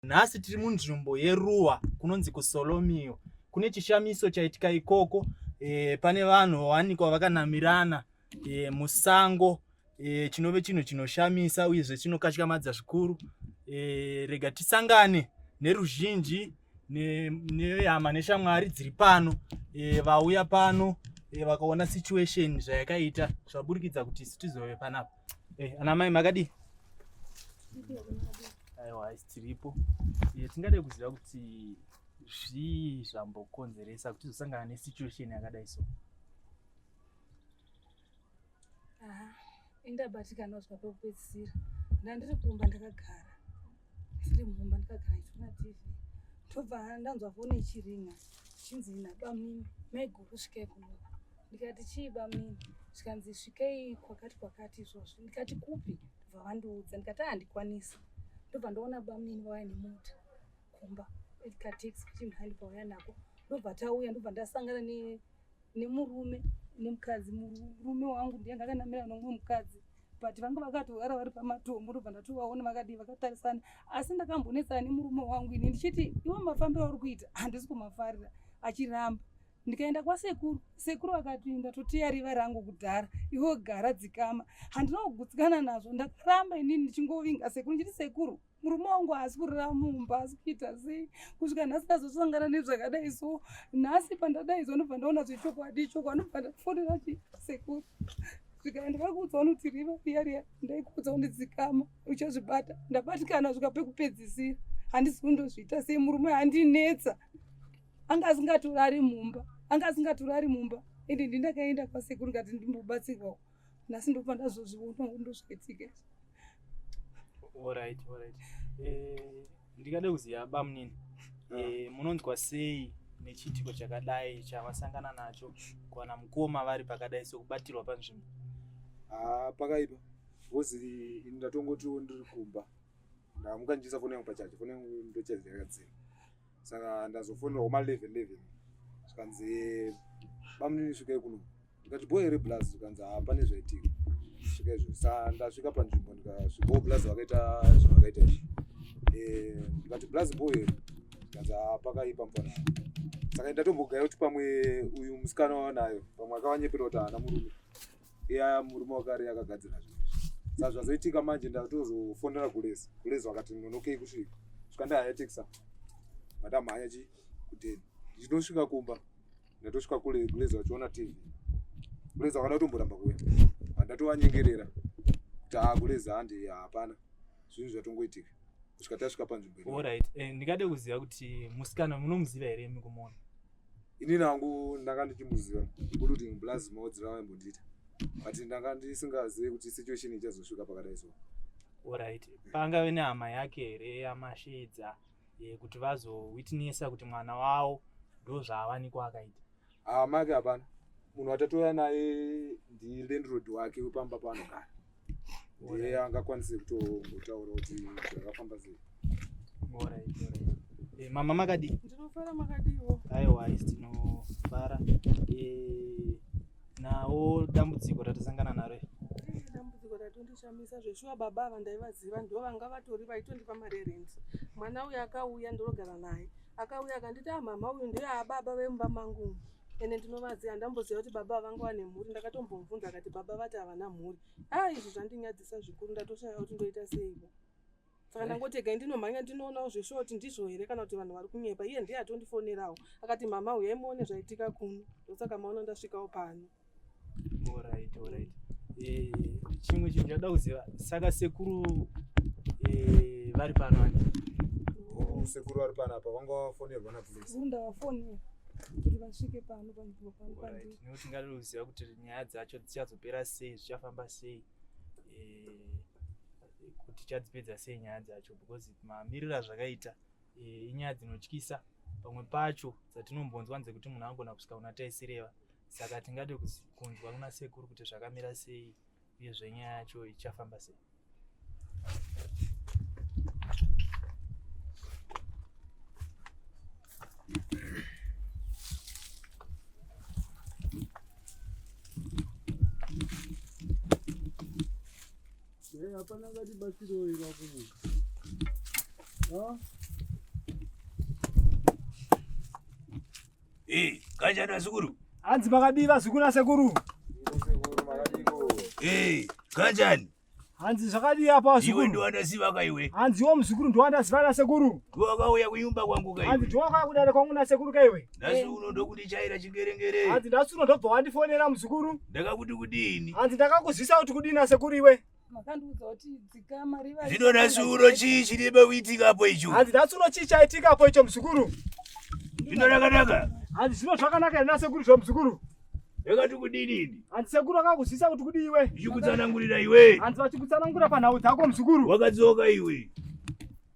Nhasi tiri munzvimbo yeruwa kunonzi kuSolomio. Kune chishamiso chaitika ikoko e, pane vanhu vawanikwa vakanamirana e, musango e, chinove chinhu chinoshamisa uyezve chinokatyamadza zvikuru. E, rega tisangane neruzhinji nehama ne, neshamwari dziri pano e, vauya pano e, vakaona situation zvayakaita zvaburikidza kuti isu tizove panapa. Eh, ana mai makadii? Aiwa haisi tiripo. Eh, tingade kuziva kuti zvii zvambokonzeresa kuti tizosangana nesituation yakadai so. Aha, indabatikana zvapo kupedzisira. Ndandiri kumba ndakagara. Ndiri mumba ndikagara ndichiona TV ndobva ndanzwa foni ichiringa zvinzi nabamini maiguru svikei kuno ndikati chii bamini zvikanzi svikei kwakati kwakati izvozvo ndikati kupi ndobva vandiudza ndikati handikwanisi ndobva ndoona bamini vauya nemota kumba katex kuti mhandi pavauya nako ndobva tauya ndobva ndasangana ne nemurume nemukadzi murume wangu ndiye ndakanamira nomumwe mukadzi but vanga vakatogara vari pamatombo ndobva ndatovaona vakadii vakatarisana asi ndakambonetsana nemurume wangu ini ndichiti iwo mafambiro auri kuita handisi kumafarira achiramba ndikaenda kwasekuru sekuru akati ndatoteya riva rangu kudhara iwo gara dzikama handina kugutsikana nazvo ndakaramba inini ndichingovinga sekuru ndichiti sekuru murume wangu haasi kurara mumba asi kuita sei kusvika nhasi ndazosangana nezvakadai so nhasi pandadaidzwa ndobva ndaona zvechokwadi choko anobva ndafonera chi sekuru zvikaya ndakakuudza unoti riva riya riya ndaikuudza undidzikama uchazvibata ndabatikana svika pekupedzisira handisi kundozviita sei murume handinetsa anga asingatorari mumba anga asingatorari mumba ende ndindakaenda kwasekuru ngati ndimbobatsirwawo nhasi ndobva ndazozviona undo zvaitika orit orit eh, ndikada kuziva bamunini ah. eh, munonzwa sei nechiitiko chakadai chavasangana nacho kuwana mukoma vari pakadai sokubatirwa panzvimbo ah, pakaipa bhozi ini ndatongotiwo ndiri kumba ndamukanjisa foni yangu pachacho foni yangu ndochaziyakadzima saka ndazofonera homa 11 11 zvikanzi bamunini svikai kuno ndikati bho here blaz zvikanzi haa pane zvaitika svika izvo sa ndasvika panzvimbo ndikasvikawo blaz vakaita zvavakaita izvi Eh, ndikati blaz bho here zvikanzi haa pakaipa mfana saka ndatombogaya kuti pamwe uyu musikana wanayo pamwe akavanyepera kuti haana murume ya murume wakare yakagadzira zvinhu izvi sa zvazoitika manje ndatozofonera gulezi gulezi wakati nonokei kusvika svika ndahaya tekisa matamhanya chi kudeni ndichinotosvika kumba ndatosvika kule gulezi vachiona tv gulezi vakada kutomboramba kuuya vandatovanyengerera kuti haa gulezi handi hapana zvinhu zvatongoitika kusvika tasvika panzvimbo eh, ndingade kuziva kuti musikana munomuziva here mukumuona inini hangu ndanga ndichimboziva kuti plus maudzira vaimbondiita but ndanga ndisingazivi kuti situation ichazosvika pakadai so orit pangave nehama yake here yamashedza eh, kuti vazowitnessa kuti mwana wavo ndozvaawanikwa akaita hama yake hapana munhu watatouya naye ndilandrod wake wepamba paanogara ndiye angakwanise kutotaura kuti zvakafamba sei eh, mama makadii ndinofara makadiiwo aiwa isi tinofara eh, nawo dambudziko ratasangana naro eh, dambudziko ratondishamisa zveshuwa baba ava ndaivaziva ndo vanga vatori vaitondipa mari yerent mwana uyu akauya ndinogara naye akauya akanditi amama ah, uyu ndeababa vemumba mangu ende ndinovaziva handamboziva kuti baba vanga vane mhuri ndakatombomubvunza akati baba vati havana mhuri haa izvi zvandinyadzisa zvikuru ndatoshaya kuti ndoita seivo saka ndangotega eh. ndinomhanya ndinoonawo zveshuwa kuti ndizvo here kana kuti vanhu vari kunyepa iye ndiye atondifonerawo akati mama huyai muone zvaitika kuno ndosaka maona ndasvikawo pano Alright, alright. Eh, chimwe chinhu chada kuziva saka sekuru eh, vari pano ani Oh, sekuru vari pano apa vanga vafonerwa napolisi sekuru ndavafonera kuti vasvike pano panzvimbo pano pandiri nekuti tingada kuziva kuti nyaya dzacho dzichazopera sei zvichafamba sei eh, kuti tichadzipedza sei nyaya dzacho because mamiriro azvakaita Eh, inyaya dzinotyisa pamwe pacho dzatinombonzwa nzekuti munhu angona kusvika kuna taisireva saka tingade kunzwa kuna sekuru kuti zvakamira sei uye zvenyaya yacho ichafamba sei Hey, hapana ngati batsiro ira kumu. Ha? Hey, kanjani sekuru? Hanzi makadii vazukuru nasekuru? Hey, kanjani? Hanzi zvakadii apa vazukuru? Iwe ndiwandaziva ka iwe. Hanzi iwo muzukuru ndiwandaziva nasekuru. Ndiwakauya kunyumba kwangu ka iwe. Hanzi ndiwakauya kudare kwangu nasekuru ka iwe. nhasi unoda kundichaira chingerengere hanzi nhasi unodobva wandifonera muzukuru ndakakuti kudini hanzi ndakakuzvisa kuti kudini asekuru iwe makandiudza kuti dzikama riva zvino nhasi uno chii chiribe kuitika apo icho hanzi nhasi uno chii chaitika apo icho muzukuru zvino rakanaka hanzi zvino zvakanaka here nasekuru zvo muzukuru yakati kudini ini hanzi sekuru akakuzvisa kuti kudii iwe ndichikutsanangurira iwe hanzi vachikutsanangura panhau dzako muzukuru wakadzoka iwe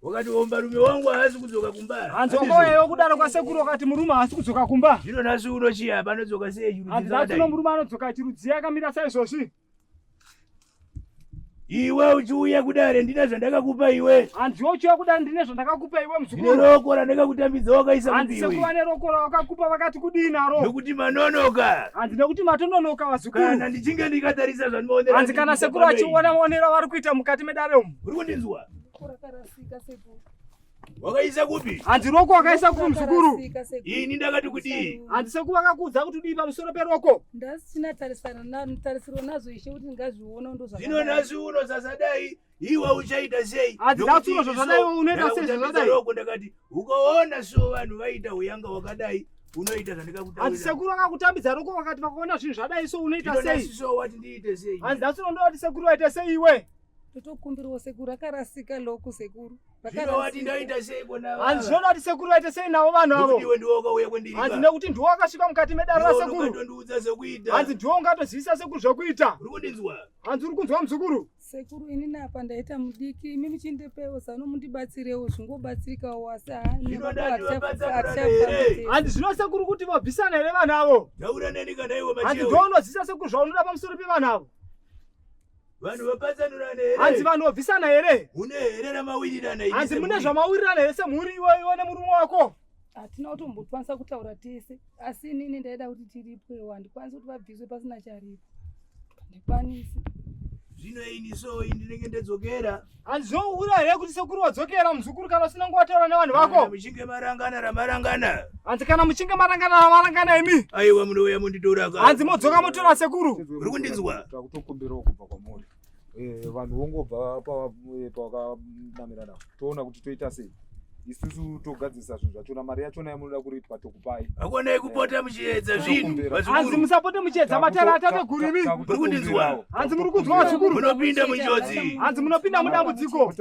wakati murume wangu haasi kudzoka kumba hanzongoyeyo kudaro kwasekuru wakati murume haasi kudzoka kumba zvino nhasi uno chii apa anodzoka sei hanzatino murume anodzoka chirudziya akamira saizvozvi iwe uchiuya kudare ndine zvandakakupa iwe hanziwe uchiuya kudare ndine zvandakakupa iwe mzukuru roko randakakutambidza wakaisa hanzisekuva neroko rawakakupa vakati kudii naro nokuti manonoka hanzi nekuti matononoka vazukuru kana ndichinge ndikatarisa zvandinoonera hanzi kana sekuru achiona maonero avari kuita mukati medare umu uri kundinzwa wakaisa kupi hanzi roko wakaisa kupi muzukuru ini ndakati kudii hanzi sekuva akakuudza kuti udii pamusoro peroko ndasina tarisiro nazvo ishe kuti ndingazviona ndozvino nhasi uno sasadai iwe uchaita sei hanzi nhasi uno zvazvadai unoita sei zvazvadai roko ndakati ukaona so vanhu vaita uyanga wakadai unoita zvandikakutaura hanzi sekuru vakakutambidza roko vakati vakaona zvinhu zvadai so unoita sei so wati ndiite sei hanzi nhasi uno ndovati sekuru vaita sei iwe totokumbirawo sekuru rakarasika loko sekuru zvinovati ndoita sei konavo handiona kuti sekuru vaite sei navo vanhu avo iwe ndiwo ukauya kwendiri hanzi nekuti ndiwo akasvika mukati medare rasekuru ungatondiudza zvekuita hanzi ndiwo ungatozivisa sekuru zvekuita uri kundinzwa hanzi uri kunzwa muzukuru sekuru ini napa ndaita mudiki imi muchindipewo zano mundibatsirewo zvingobatsirikawo asi handi zvino sekuru kuti vabvisana here vanhu avo hanzi ndiwo unozivisa sekuru zvaunoda pamusoro pevanhu avo vanhu vapatsanurana here hanzi vanhu vobvisana here une here ramawirirana hanzi mune zvamawirirana here semhuri iwoiwo nemurume wako hatina kutombokwanisa kutaura tese asi inini ndaida kuti tiripwewo handikwanisi kuti vabviswe pasina charipo handikwanisi zvino ini so ndinenge ndedzokera Handizohura here kuti sekuru wadzokera muzukuru kana usina kuvataura nevanhu vako? Muchinge marangana ramarangana. Hanzi kana muchinge marangana ramarangana imi. Aiwa munouya munditora ka. Hanzi modzoka motora sekuru. Uri kundinzwa? Takutokumbirawo kubva kwamuri. Eh vanhu vongobva pavakamirana. Toona kuti toita sei. isusu togadzirisa zvinhu zvachona mari yachona yamunoda kuripa tokupai hakonai kupota muchiedza zvinhu hanzi musapote muchiedza matara atate guru imi muri kundinzwa hanzi muri kunzwa vazukuru munopinda munjodzi hanzi munopinda mudambudziko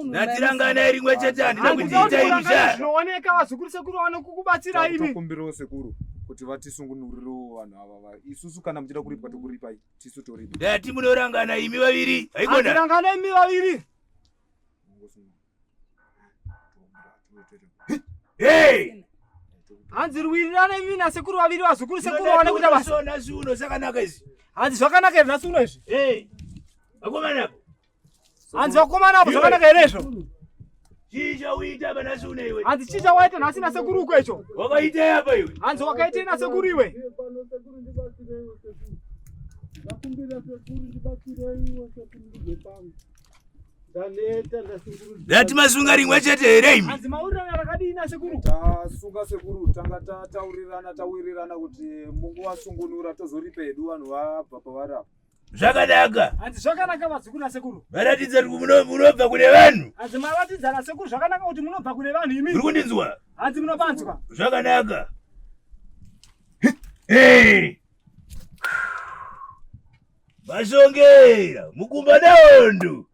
natiranganai rimwe chete handina kutiita imi zva zvinooneka vazukuru sekuru vanokukubatsira imi tokumbirawo sekuru kuti vatisungunurirewo vanhu ava isusu kana muchida kuripwa tokuripai tisu tori ndati munorangana imi vaviri haikona tirangana imi vaviri hey hanzi rwirirana imi nasekuru vaviri vazukuru sekuru vaone kuita basa nhasi uno zvakanaka izvi hanzi zvakanaka here nhasi uno izvi hey akomana Hanzi vakomana avo zvakanaka here izvo? Chii chauita pana Sune iwe? Hanzi chii chawaita nhasi nasekuru uko icho? Wakaitei apa iwe? Hanzi wakaitei nasekuru iwe? Ndakumbira sekuru ndibatsirei iwe sekuru ndibve pangu. Ndaneta ndasekuru. Ndati masunga rimwe chete here imi? Hanzi maurirana rakadii nasekuru? Tasunga sekuru tanga tataurirana tawirirana kuti munguva sungunura tozoripa hedu vanhu vabva pavari apa. zvakanaka hanzi zvakanaka vazukuru nasekuru varatidza kuti munobva kune vanhu hanzi maratidza nasekuru zvakanaka kuti munobva kune vanhu imi uri kundinzwa hanzi munopanzwa zvakanaka vashongera mukumba naondo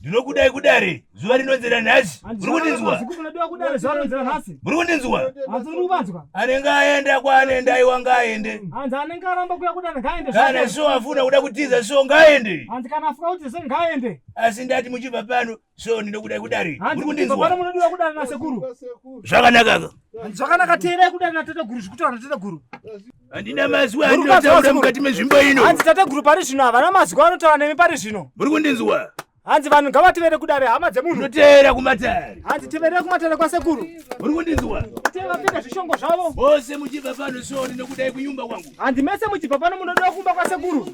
ndinokudai kudare zuva rinonzera nhasi uri kundinzwa uri kundinzwa anenge aenda kwaanenda iwa ngaaende kana so afuna kuda kutiza so ngaaende asi ndati muchibva pano so ndinokudai kudare uri kundinzwa zvakanakaka zvakanaka teerai kudare nateteguru zvikuti vanateteguru handina mazwi andinotaura mukati mezvimbo ino hanzi tateguru pari zvino havana mazwi anotaura nemi pari zvino muri kundinzwa hanzi vanhu ngavativere kudare hama dzemunhu ndoteera kumatare hanzi tiverere kumatare kwasekuru muri kundinzwa vapfeka zvishongo zvavo vose muchibva pano soni nokudai kunyumba kwangu hanzi mese muchibva pano munoda kumba kwasekuru